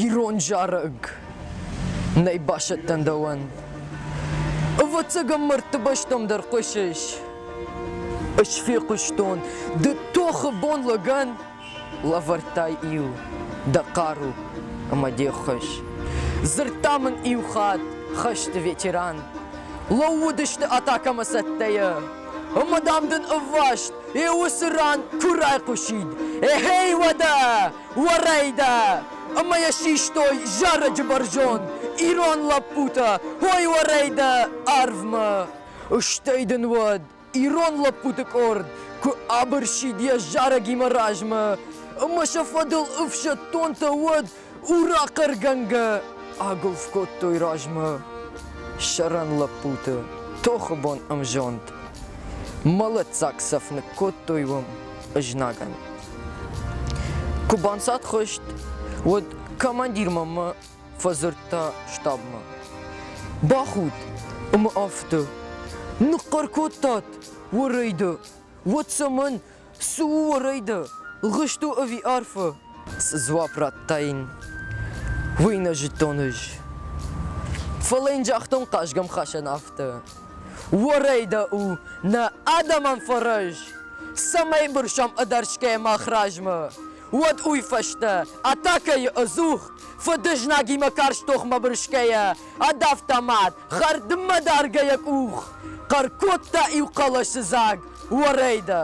Ирон зарӕг. Нӕ басӕттӕн дӕуӕн. Ӕвӕццӕгӕн мӕрдты бӕстӕм дӕр хъуысыс. Ӕз фехъуыстон, ды тохы бон лӕгӕн лӕвӕрдтай иу дӕ хъару ӕмӕ де ххуыс. Дзырдта мын иу хатт хӕсты ветеран. Лӕууыдысты атакӕмӕ цӕттӕйӕ. Ӕмӕ дам дын ӕвваст йӕ уыцы ран куы райхъуысид. Ехей, уӕдӕ! Уӕрӕйдӕ! Ӕмӕ йӕ систой зарӕджы бӕрзонд ирон лӕппутӕ Ой, уӕрӕйдӕ арвмӕ! Стӕй дын уӕд ирон лӕппуты къорд куы абырсид йӕ зарӕгимӕ размӕ ӕмӕ сӕ фӕдыл ӕфсӕддонтӕ уӕд урахъӕргӕнгӕ агуылф кодтой размӕ сӕрӕн лӕппуты тохы бон ӕмзонд. Мӕлӕтдзаг цӕф ныккодтой уым. знагӕн. Куы банцадхъызт, уӕд командир мӕмӕ фӕдзырдта штабмӕ. Бахуд, ӕмӕ афтӕ. Ныхъхъӕр кодтат уӕрӕйды. Уӕд цӕмӕн? Цы у уӕрӕйды? Гъызт у ӕви арфы? Цы дзуапп радтаин, уый нӕ зыдтон ӕз. Фӕлӕ йын загътон хъазгӕмхасӕн афтӕ. Уорӕй дӕ у нӕ адӕмӕн фӕрӕз, цӕмӕй бырсӕм ӕдӕрсгӕ мах размӕ. Уӕд уый фӕстӕ атакӕйы ӕдзух фыдызнагимӕ карз тохмӕ бырсгӕйӕ адавта мад, хӕрдмӕ даргӕ йӕ къух, хъӕр кодта иу хъӕлӕсы дзаг Уорӕйдӕ.